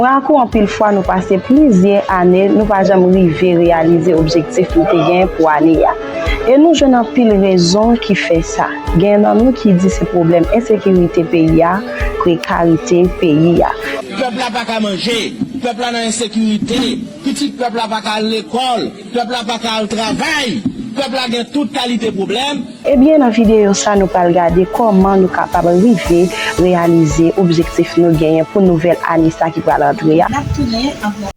Mwen ak ou anpil fwa nou pase plizyè ane nou pa janm rive reyalize objektif nou te gen pou ane a. E nou jwenn anpil rezon ki fè sa. Genyen nan nou ki di se pwoblèm ensekirite peyi a, prekarite peyi a. Pèp la pa ka manje, pèp la nan ensekirite, pitit pèp la pa ka al lekòl. Pèp la pa ka al travay! Pèp la gen tout kalite pwoblèm! Ebyen nan videyo sa nou pral gade kòman nou kapab rive reyalize objektif nou genyen pou nouvèl ane sa ki pral antre a.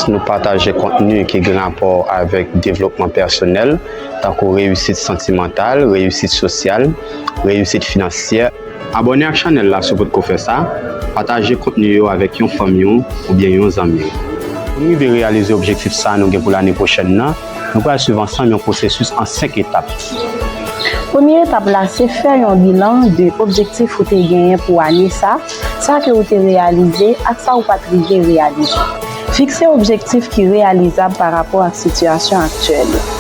Nou pataje kontni ki gen rapò avèk devlopman pèsonèl, tankou reyisit santimantal, reyisit sosyal, reyisit finansyè. Abòne ak chanèl la si w potko fè sa, pataje kontni yo avèk yon fanmi w oubyen yon zanmi w. Pou n rive reyalize objektif sa nou gen pou lane pwochèn nan, nou pral swiv ansanm yon pwosesis an 5 etap. Premye etap la se fè yon bilan de objektif ou te genyen pou ane sa. Sa ke ou te reyalize ak sa ou pa t rive reyalize. Fikse objektif ki reyalizab pa rapò ak sitiyasyon aktyèl ou.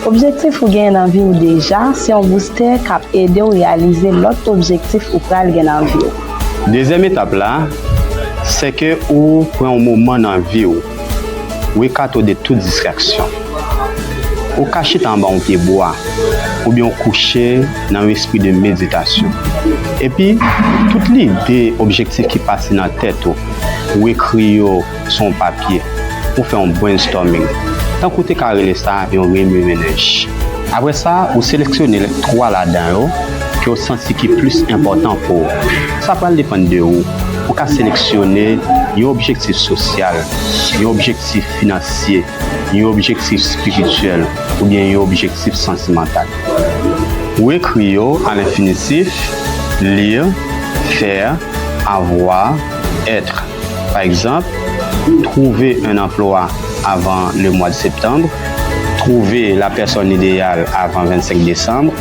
Objektif ou genyen nan vi ou deja se yon boustè k ap ede ou reyalize lòt objektif ou pral gen nan vi ou. Dezyèm etap la, sèke ou pran yon moman nan vi ou. Weka to de tout distraksyon. Ou ka chita anba yon pye bwa, oubyen ou kouche nan yon espri de meditasyon. Epi, tout lide, objektif ki pase nan tèt ou, ou ekri yo sou yon papye. Ou fè yon brainstorming, tankou ou te ka rele sa yon remimenensh. Apre sa, ou seleksyone twa ladan yo ke ou santi ki plis enpòtan pou ou. Sa pral depann de ou. Pou ka seleksyone yon objektif sosyal, yon objektif finansye, yon objektif espirityèl oubyen yon objektif santimantal. Ou ekri yo a lenfinitif, lire, faire, avoir, être. Pa egzanp, Trouver un emploi avant le mois de septembre, Trouver la personne idéale avant 25 décembre,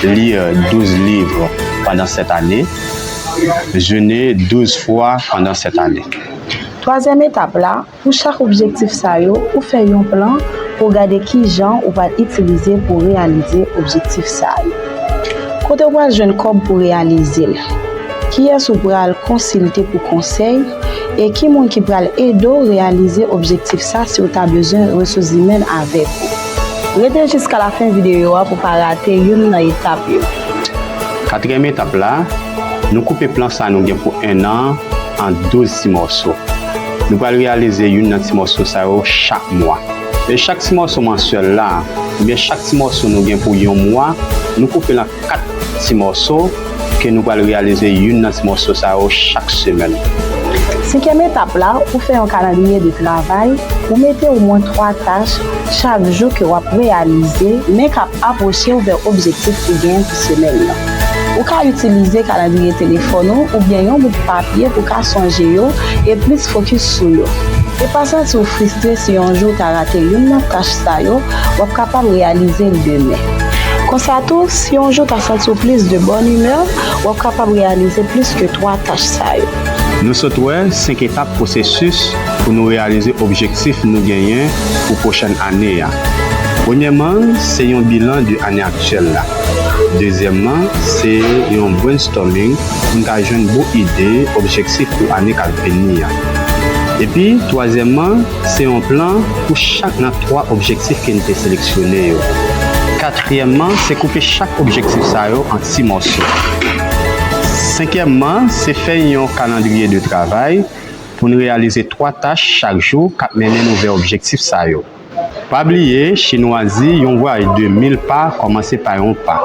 Lire 12 livres pendant cette année. jene douz fwa pandan sèt ane. Twazyèm etap la, pou chak objektif sa yo, ou fè yon plan pou w gade kijan ou pral itilize pou w reyalize objektif sa yo. Kote ou pral jwenn kòb pou reyalize l? Kiyès ou pral konsilte pou konsèy? E ki moun ki pral ede w reyalize objektif sa si w ta bezwen resouzimèn avèk ou? Rete jiska lafen videyo a pou w pa rate youn nan etap yo. Katriyèm etap la, Nou koupe plan sa nou gen pou 1 an an 12 ti mòso. Nou pral reyalize youn nan ti mòso sa yo chak mwa. E chak ti mòso mansyèl la, oubyen chak ti mòso nou gen pou yon mwa, nou koupe l an 4 ti mòso ke nou pral reyalize youn nan ti mòso sa yo chak semèn. Senkyèm etap la, Ou fè yon kalandriye de travay, ou mete omwen 3 tach Chak jou ke wap reyalize men kap apwochew vè objektif ou genyen pou semèn nan. Ou ka itilize kalandriye telefòn ou oubyen yon bout papye pou ka sonje yo e plis fokis sou yo. E pa santiw fristre si yon jou ou ta rate youn nan tach sa yo, wap kapab reyalizel demen. Konsa tou, si yon jou ou ta santiw plis de bòn imè, wap kapab reyalize plis ke 3 tach sa yo. Nou sot wè 5 etap pwosesis pou nou reyalize objektif nou genyen pou pwochèn ane a. Premyèman, se yon bilan de ane aktyèl la. Dezyèmman, se yon brainstorming pou n ka jwenn bon ide objektif pou ane k ap vini a. Epi, twazyèmman, se yon plan pou chak nan twa objektif ke n te seleksyone yo. Katriyèmman, se koupe chak objektif sa yo an ti mòso. Senkyèmman, se fè yon kalandriye de travay pou n reyalize 3 tach chak jou k ap mennen nou vè objektif sa yo. Pa bliye, Chinwa di yon vwayaj de mil pa kòmanse pa yon pa.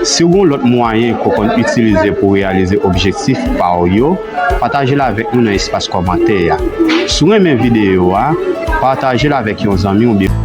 Si w gen yon lòt mwayen ke w konn itilize pou w reyalize objektif pa w yo, pataje l avèk nou nan espas kòmantè a. Si w renmen videyo a, pataje l avèk yon zanmi oubyen.